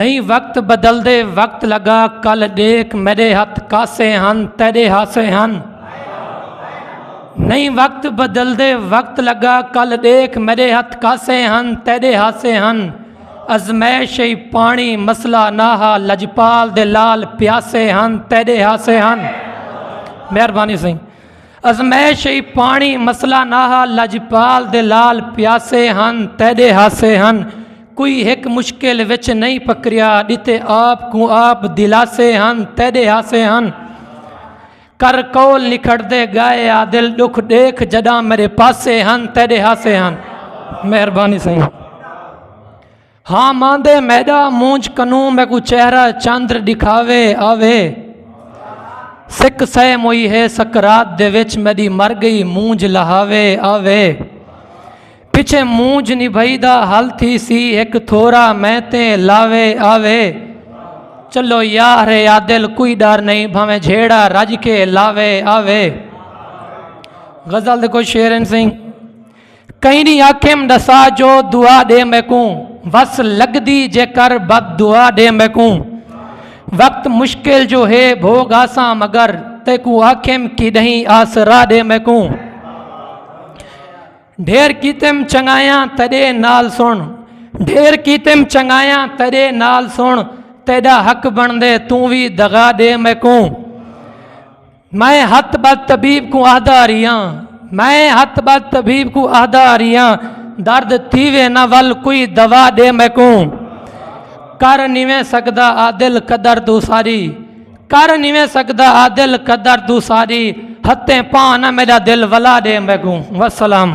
ایں وقت بدلدے وقت لگا کل ڈیکھ میڈے ہتھ کاسے ہن تیڈے ہاسے ہن نہیں وقت بدلدے وقت لگا کل ڈیکھ میڈے ہتھ کاسے ہن تیڈے ہاسے ہن ازمائش ای پانی مسئلہ نہ ہا لجپال دے لال پیاسے ہن تیڈے ہاسے ہن مہربانی سائیں ازمائش ای پاݨی مسئلہ نہ ہا لجپال دے لال پیاسے ہن تیݙے ہاسے ہن کوئی ہک مشکل وچ نئیں پکریا ݙتے آپ کوں آپ دلاسے ہن تیݙے ہاسے ہن کر قول نکھڑدے ڳائے عادل ݙکھ ݙیکھ جݙاں میݙے پاسے ہن تیݙے ہاسے ہن مہربانی سائیں ہاں ماندے میڈا مونج کنوں میں کو چہرہ چاندر دکھاوے آوے سکھ سہ موئی ہے سکرات دے وچ میڈی مر گئی مونج لہاوے آوے پچھے مونج نبھائی دا حل تھی سی ایک تھورا میں تے لاوے آوے چلو یار یادل کوئی ڈر نہیں بھاویں جھیڑا رج کے لاوے آوے غزل دے کوئی شعر ہیں سنگھ کئنی آکھیم ڈسا جو دعا ڈے میکوں وس لگدی جے کر بد دعا ڈے میکوں وقت مشکل جو ہے بھوگ آساں مگر تیکوں آکھیم کیڈہیں آسرا ڈے میکوں ڈھیر کیتم چنگایاں تیڈے نال سن ڈھیر کیتم چنگایاں تیڈے نال سن تیڈا حق بن دے توں وی دغا ڈے میکوں میں ہتھ بد طبیب کوں آہدا ریاں میں ہتھ بد طبیب کوں آہدا ریاں درد تھیوے نہ ول کوئی دوا دے میکوں کر نیویں سکدا عادل قدر تو ساری کر نیویں سکدا عادل قدر تو ساری ہتھیں پاں نہ میرا دل ولا دے میکوں وسلام